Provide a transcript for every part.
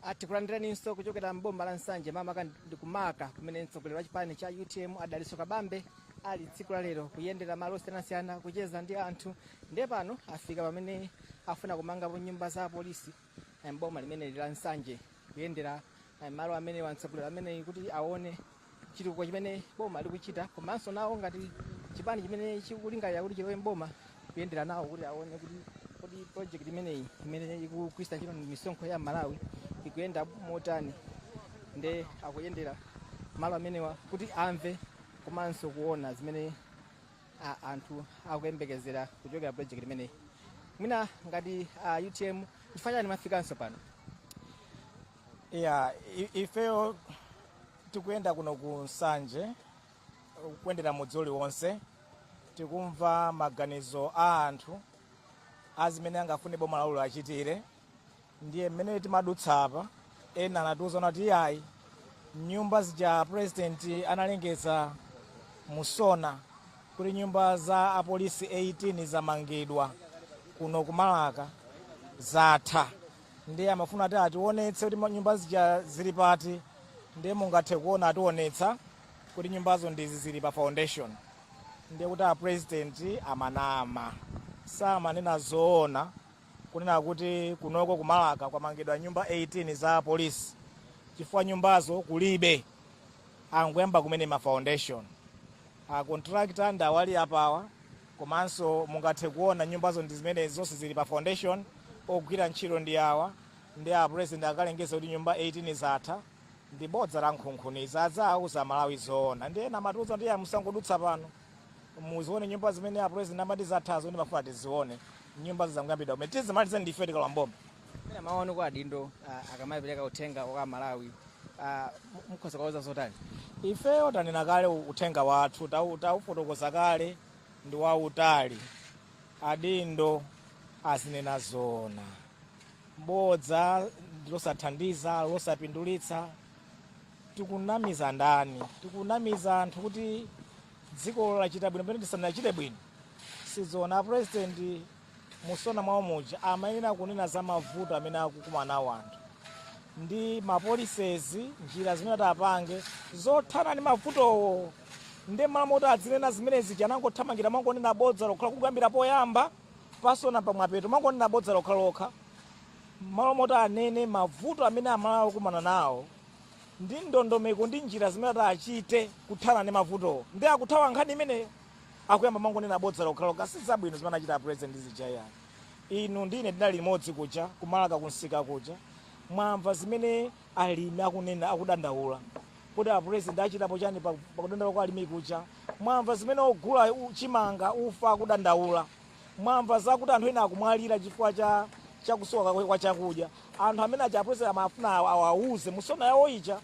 Ah, tikulandiraninso kuchokera m'boma la nsanje makamaka ndi kumaka kumene mtsogoleri wa chipani cha utm a dalitso kabambe ali tsiku la lero kuyendera malo osiyanasiyana kucheza ndi anthu ndiye pano afika pamene afuna kumangapo nyumba za apolisi eh, m'boma limeneli la nsanje kuyendera eh, malo amenewa mtsogoleri ameneyi kuti aone chitukuko chimene boma likuchita komanso nawo ngati chipani chimene chikulingalira kuti chilowe mboma kuyendera nawo kuti aone kuti kodi project imeneyi imene ikugwiritsa ntchito misonkho ya amalawi ikuyenda motani nde akuyendera malo amenewa kuti amve komanso kuona zimene a- anthu akuyembekezera kuchokera project imeneyi mwina ngati a utm chifukwa chani mwafikanso pano ya i- ifeyo tikuyenda kuno ku nsanje kuyendera mudzi uliwonse tikumva maganizo a anthu a zimene angafune boma lawo liwachitire ndiye mmene timadutsa apa ena anatiuza kuti iyayi nyumba zija a president analengeza mu sona kuti nyumba za apolisi 18 zamangidwa kuno ku maraka zatha ndiye amafuna ati atiwonetse kuti nyumba zija zili pati ndiye mungathe kuona atiwonetsa kuti nyumbazo ndizi zili pa foundation ndiye kuti a president amanama samanena zoona kunena kuti kunoko ku maraka kwamangidwa nyumba 18 za polisi chifukwa nyumbazo kulibe angoyamba kumene ma foundation a contractor ndi awa ali apawa Komanso mungathe kuona nyumbazo ndi zimenezi, zonse zili pa foundation. Ogwira ntchito ndi awa, ndiye a president akalengeza kuti nyumba 18 zatha, ndi bodza lankhunkhuniza. Aziwauza Amalawi zoona. Ndiye ena amatiuza kuti iyayi musangodutsa pano, muzione nyumba zimene a president amati zathazo, nde amafuna tizione. Nyumbazo zangoyambidwa kumene. Tidzazimalize ndife tikalowa m'boma. Mwina mawu anu kwa adindo uh, akamapereka uthenga kwa Amalawi uh, mukhoza kuwauza zotani? Ifeyo tanena kale uthenga wathu tau- taufotokoza kale ndi wautali. Adindo azinena zoona, bodza ndi losathandiza losapindulitsa. Tikunamiza ndani? Tikunamiza anthu kuti dziko lachita bwino pamene tisanachite bwino. Sizoona a president Mu SONA mwawo muja amayenera kunena za mavuto amene akukumana nawo anthu ndi ma policies, njira zimene ati apange zothana ndi mavutowo nde mmalo moti adzinena zimene zija anangothamangira mongonena bodza lokha kuyambira poyamba pa SONA mpaka pamapeto mongonena bodza lokhalokha mmalo moti anene mavuto amene amalawi akukumana nawo ndi ndondomeko ndi njira zimene ati achite kuthana ndi mavutowo nde akuthawa nkhani imeneyo. akuyamba mangonena bodza lokhalokha sizabwino zimene achita apresident zija yayi inu ndi ine tinali limodzi kuja ku Balaka kumsika kuja mwamva zimene alimi akunena akudandaula kuti apresident achitapo chani pa- pakudandaula kwa alimi kuja mwamva zimene ogula u- chimanga ufa akudandaula mwamva zakuti anthu ena akumwalira chifukwa cha kusowa kwa- kwa chakudya anthu amene aja apresident amafuna awa- awauze mu SONA yawo ija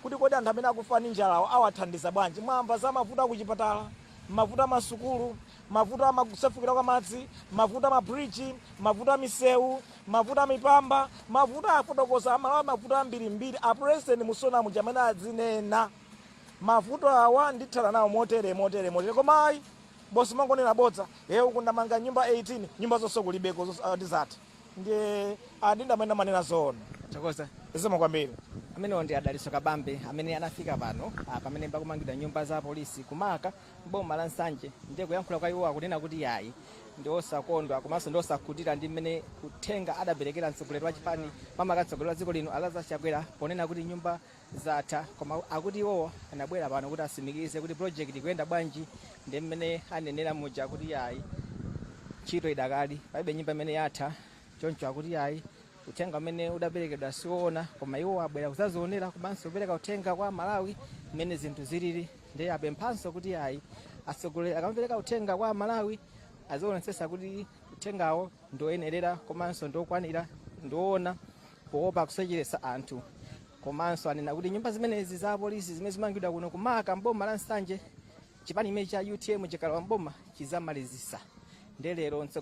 kuti kodi anthu amene akufa ndi njalawa awathandiza bwanji. Mwamva za mavuto a kuchipatala, mavuto a masukulu, mavuto a ma, kusefukira kwa madzi, mavuto a mabridge, mavuto a misewu, mavuto a mipamba, mavuto afotokoza aMalawi mavuto ambirimbiri a president mu SONA muja amene azinena mavuto awa ndithana nawo motere motere motere koma ayi bosi mangonena bodza eh uku ndamanga nyumba 18 nyumba zonse kulibeko zonse, ah, ndi zatha ndiye adindo amene amanena zoona Tathokoza. zikomo kwambiri amenewo ndi a Dalitso Kabambe amene anafika pano ah, pamene pakumangidwa nyumba za polisi ku Marka m'boma la Nsanje ndiye kuyankhula kwa iwo akunena kuti yayi ndi osakondwa komanso ndi osakhutira ndi mmene uthenga adaperekera mtsogoleri wa chipani makamaka mtsogoleri wa dziko lino a Lazarus Chakwera ponena kuti nyumba zatha koma akuti iwowo anabwera pano kuti atsimikize kuti project ikuyenda bwanji ndi mmene anenera muja kuti yayi ntchito idakali palibe nyumba imene yatha choncho akuti yayi uthenga umene udaperekedwa siwoona koma iwo abwera kudzadzionera komanso kupereka uthenga kwa aMalawi mmene zinthu zilili ndiye apemphanso kuti yayi atsogoleri akamapereka uthenga kwa aMalawi azionetsetsa kuti uthengawo ndioyenerera komanso ndiokwanira ndiwoona poopa kusocheretsa anthu komanso anena kuti nyumba zimenezi za apolisi zimene zikumangidwa kuno ku Marka m'boma la Nsanje chipani chimenechi cha UTM chikalowa m'boma chidzamalizitsa nde lero mtsogoleri